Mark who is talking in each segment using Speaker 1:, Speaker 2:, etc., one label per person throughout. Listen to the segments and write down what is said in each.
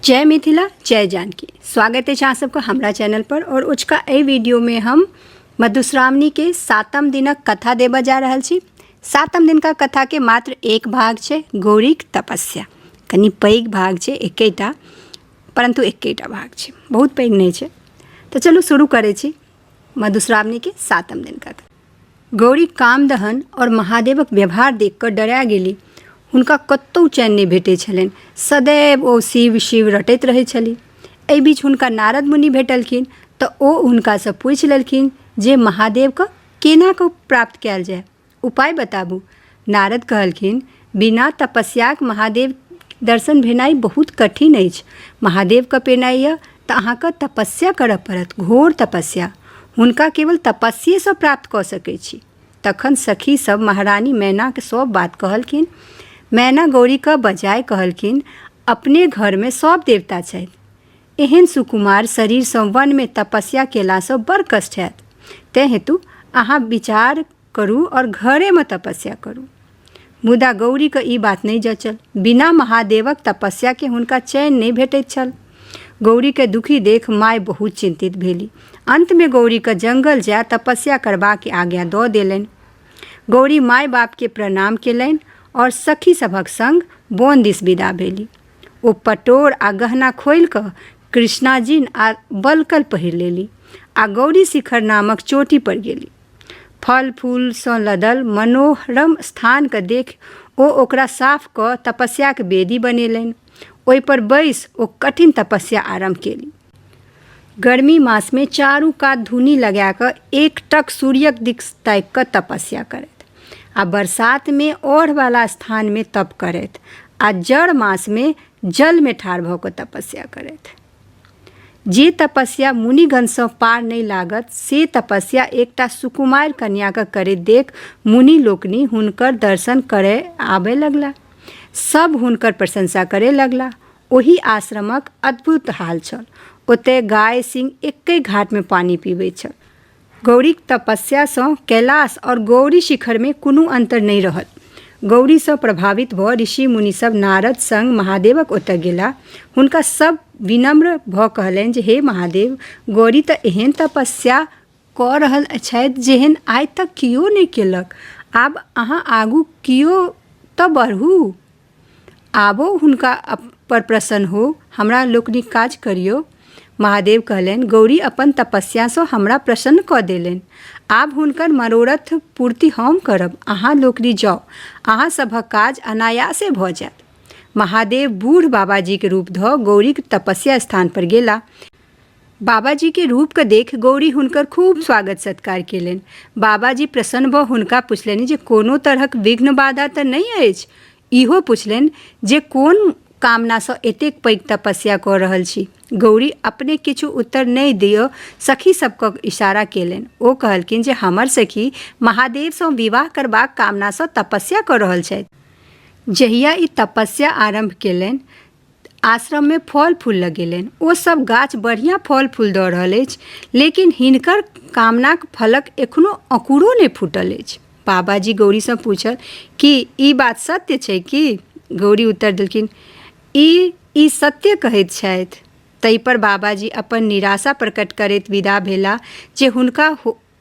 Speaker 1: जय मिथिला जय जानकी स्वागत अछि अहाँ सबके हमरा चैनल पर और उचका एहि वीडियो में हम मधुश्रावणी के सातम दिनक कथा देबऽ जा रहल छी सातम दिन का कथा के मात्र एक भाग छै गौरीक तपस्या कनि पैघ भाग छै एकेटा परंतु एकेटा भाग छै बहुत पैघ नहि छै तऽ चलू शुरू करै छी मधुश्रावणी के सातम दिन का कथा गौरी कामदहन आओर महादेवक व्यवहार देख कऽ डरा गेली हुनका कतहु चैन नहि भेटै छलनि सदैव ओ शिव शिव रटैत रहै छली एहि बीच हुनका नारद मुनि भेटलखिन तऽ ओ हुनकासँ पूछि लेलखिन जे महादेवके केना कऽ प्राप्त कयल जाय उपाय बताबू नारद कहलखिन बिना तपस्याक महादेव दर्शन भेनाइ बहुत कठिन अछि महादेवके पेनाइ यऽ तऽ अहाँके तपस्या करऽ पड़त घोर तपस्या हुनका केवल तपस्येसँ प्राप्त कऽ सकै छी तखन सखी सब महारानी मैनाके सब बात कहलखिन मैना गौरीके बजाय कहलखिन अपने घरमे सब देवता छथि एहन सुकुमार शरीरसँ वनमे तपस्या केलासँ बड़ कष्ट हैत तैं हेतु अहाँ विचार करू और घरे में तपस्या करू मुदा गौरी के ई बात नहीं जचल बिना महादेवक तपस्या के हुनका चैन नहीं भेटैत छल गौरी के दुखी देख माय बहुत चिंतित भेली अंत में गौरी के जंगल जाय तपस्या करबा के आज्ञा दऽ देलनि गौरी माय बाप के प्रणाम केलनि और सखी सभक संग बोन दिस विदा भेली ओ पटोर आ गहना खोलि कऽ कृष्णाजिन आ बलकल पहिर लेली आ गौरी शिखर नामक चोटी पर गेली फल फूलसँ लदल मनोहरम स्थानके देखि ओ ओकरा साफ कऽ तपस्याक वेदी बनेलनि ओहिपर बैस ओ कठिन तपस्या आरम्भ केली गर्मी मासमे चारू कात धुनी लगा कऽ एकटक सूर्यक दिक ताकि कऽ तपस्या करथि आ बरसातमे ओढ़वला स्थानमे तप करथि आ जड़ मासमे जलमे ठाढ़ भऽ कऽ तपस्या करथि जे तपस्या मुनिगणसँ पार नहि लागत से तपस्या एकटा सुकुमार कन्याके करैत देख मुनि लोकनि हुनकर दर्शन करय आबय लगला सभ हुनकर प्रशंसा करय लगला ओहि आश्रमक अद्भुत हाल छल ओतय गाय सिंह एकै घाटमे पानि पीबैत छल गौरीक तपस्या सँ कैलास और गौरी शिखर मे कुनु अन्तर नहि रहल। गौरी सँ प्रभावित भ ऋषि मुनि सभ नारद संग महादेवक ओतय गेलाह। हुनका सभ विनम्र भ कहलनि जे हे महादेव! गौरी त एहेन तपस्या क रहल छथि जेहेन आइ तक कियो नहि केलक। आब अहाँ आगू कियो त बढू। आबो हुनका अप- पर प्रसन्न हो हमरा लोकनिक काज करियौ महादेव कहलनि गौरी अपन तपस्यासँ हमरा प्रसन्न कऽ देलनि आब हुनकर मनोरथ पूर्ति हम करब अहाँ लोकनि जाउ अहाँ सभक काज अनायासे भऽ जायत महादेव बूढ़ बाबाजीक रूप धऽ गौरीक तपस्या स्थान पर गेला बाबाजी के रूप के देख गौरी हुनकर खूब स्वागत सत्कार केलनि बाबाजी प्रसन्न भऽ हुनका पुछलनि जे कोनो तरहक विघ्न बाधा तऽ नहि अछि इहो पुछलनि जे कोन कामनासँ एतेक पैघ तपस्या कऽ रहल छी गौरी अपने किछु उत्तर नहि दियौ सखी सबके इशारा केलनि ओ कहलखिन जे हमर सखी महादेवसँ विवाह करबाक कामनासँ तपस्या कऽ रहल छथि जहिया ई तपस्या आरम्भ केलनि आश्रममे फल फूल लगेलनि ओ सब गाछ बढ़िआँ फल फूल दऽ रहल अछि लेकिन हिनकर कामनाक फलक एखनो अँकुरो नहि फूटल अछि बाबाजी गौरीसँ पूछल कि ई बात सत्य छै कि गौरी उत्तर देलखिन ई ई सत्य कहैत छथि ताहिपर बाबाजी अपन निराशा प्रकट करैत विदा भेला जे हुनका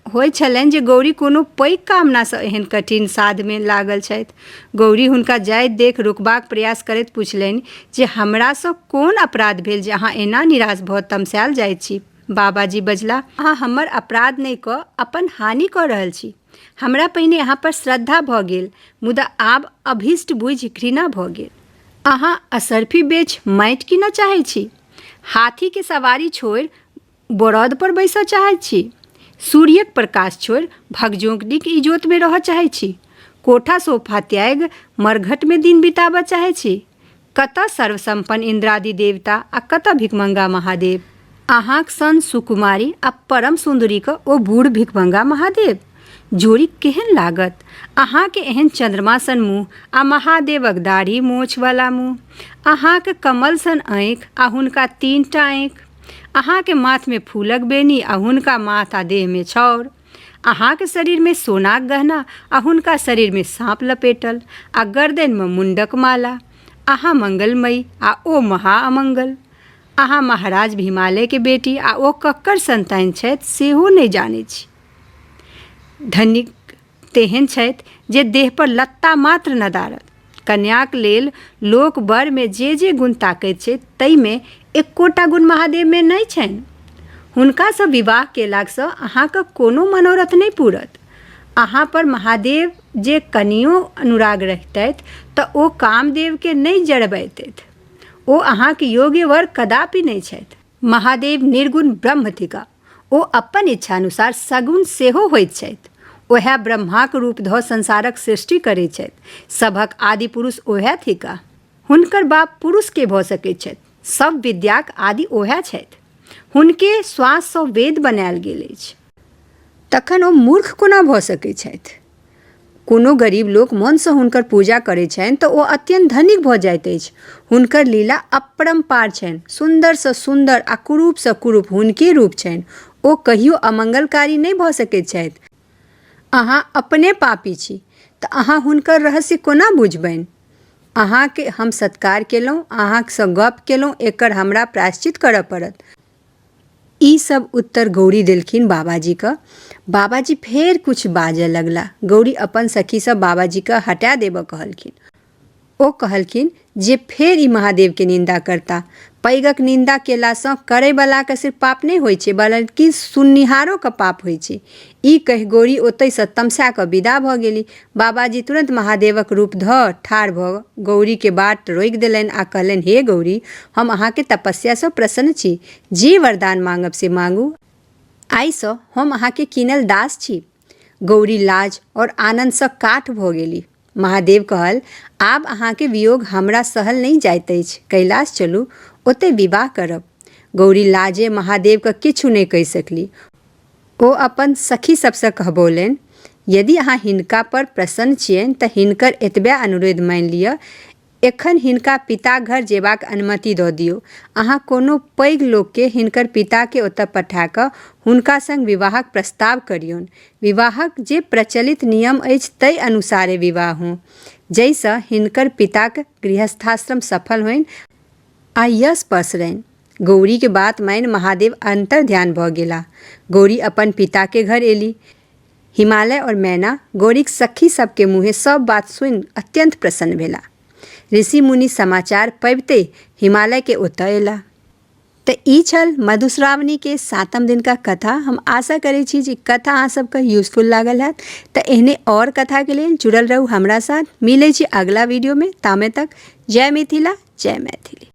Speaker 1: होइ छलनि जे गौरी कोनो पैघ कामनासँ एहन कठिन साधमे लागल छथि गौरी हुनका जाइत देख रोकबाक प्रयास करैत पुछलनि जे हमरासँ कोन अपराध भेल जे अहाँ एना निराश भऽ तमसायल जाइत छी बाबाजी बजला अहाँ हमर अपराध नहि कऽ अपन हानि कऽ रहल छी हमरा पहिने अहाँ पर श्रद्धा भऽ गेल मुदा आब अभीष्ट बुझि घृणा भऽ गेल अहाँ असरफी बेच माटि कीनऽ चाहै छी हाथीके सवारी छोड़ि बरद पर बैसऽ चाहैत छी सूर्यक प्रकाश छोड़ि भगजोंकनीक इजोतमे रहऽ चाहैत छी कोठा सोफा त्यागि मरघटमे दिन बिताबऽ चाहैत छी कतऽ सर्वसम्पन्न इन्द्रादि देवता आ कतऽ भिकमंगा महादेव अहाँक सन सुकुमारी आ परम सुन्दरीके ओ बूढ़ भिकमंगा महादेव जोड़ी केहन लागत अहाँके एहन चन्द्रमा सन मुँह आ महादेवक दाढ़ी मोछवला मुँह अहाँके कमल सन आँखि आ हुनका तीनटा आँखि अहाँके माथमे फूलक बेनी आ हुनका माथ आ देहमे छौर अहाँके शरीरमे सोनाक गहना आ हुनका शरीरमे साँप लपेटल आ गर्दनिमे मुंडक माला अहाँ मंगलमयी आ ओ महा अमंगल अहाँ महाराज हिमालयके बेटी आ ओ ककर संतान छथि सेहो नहि जानै छी धनिक तेहन छथि जे देह पर लत्ता मात्र नदारत कन्याक लेल लोक बरमे जे जे गुण ताकैत छै ताहिमे एकोटा गुण महादेवमे नहि छनि हुनकासँ विवाह केलासँ अहाँके कोनो मनोरथ नहि पूरत अहाँ पर महादेव जे कनियो अनुराग रहितथि तऽ ओ कामदेवके नहि जरबैतथि ओ अहाँके योग्य वर कदापि नहि छथि महादेव निर्गुण ब्रह्म थिका ओ अपन इच्छानुसार सगुण सेहो होइत छथि। ओएह ब्रह्माक रूप धऽ संसारक सृष्टि करैत छथि। सभक आदि पुरुष ओएह थिकाह। हुनकर बाप पुरुष के भऽ सकैत छथि? सभ विद्याक आदि ओएह छथि। हुनके श्वास सँ वेद बनाएल गेल अछि। तखन ओ मूर्ख कोना भऽ सकैत छथि? कोनो गरीब लोक मनसँ हुनकर पूजा करै छनि तऽ ओ अत्यन्त धनिक भऽ जाइत अछि हुनकर लीला अपरम्पार छनि सुन्दरसँ सुन्दर आ कुरूपसँ कुरूप हुनके रूप छनि ओ कहियो अमंगलकारी नहि भऽ सकैत छथि अहाँ अपने पापी छी तऽ अहाँ हुनकर रहस्य कोना बुझबनि अहाँके हम सत्कार केलहुँ अहाँसँ गप केलहुँ एकर हमरा प्रायश्चित करऽ पड़त ई सब उत्तर गौरी देलखिन बाबाजी क बाबाजी फेर कुछ बाजय लगला गौरी अपन सखी सब बाबाजी क हटा देबऽ कहलखिन ओ कहलखिन जे फेर ई महादेव के निंदा करता पैगक निंदा केला सँ करय वाला के सिर्फ पाप नहि होइ छै बल्कि सुननिहारो के पाप होइ छै ई कहि गौरी ओतहिसँ तमसा कऽ विदा भऽ गेली। बाबाजी तुरन्त महादेवक रूप धऽ ठाढ़ भऽ गौरीकेँ बाट रोकि देलनि आ कहलनि हे गौरी, हम अहाँक तपस्यासँ प्रसन्न छी। जे वरदान माँगब से माँगू। आइसँ हम अहाँक कीनल दास छी। गौरी लाज और आनन्दसँ काठ भऽ गेली। महादेव कहल आब अहाँके वियोग हमरा सहल नहि जाइत अछि कैलाश चलू ओतय विवाह करब गौरी लाजे महादेवके किछु नहि कहि सकली ओ अपन सखी सबसँ कहबौलनि यदि अहाँ हिनका पर प्रसन्न छियनि तऽ हिनकर एतबे अनुरोध मानि लिअ एखन हिनका पिताघर जेबाक अनुमति दऽ दियौ। अहाँ कोनो पैघ लोककेँ हिनकर पिताकेँ ओतय पठा कऽ हुनका संग विवाहक प्रस्ताव करियौन। विवाहक जे प्रचलित नियम अछि तइ अनुसारे विवाह हों। जइसँ हिनकर पिताक गृहस्थाश्रम सफल होइन आ यश पसरनि। गौरीक बात मानि महादेव अन्तर्ध्यान भऽ गेलाह। गौरी अपन पिताकेँ घर एली। हिमालय और मैना गौरीक सखी सब के मुँहे सब बात सुनि अत्यंत प्रसन्न भेला। ऋषि मुनि समाचार पबिते हिमालय के ओतय अयला। त ई छल मधुश्रावणी के सातम दिन का कथा। हम आशा करै छी जे कथा अहाँ सब के यूजफुल लागल हैत। त एहने और कथा के लेल जुड़ल रहू हमरा साथ। मिलै छी अगला वीडियो में। तामे तक जय मिथिला जय मैथिली।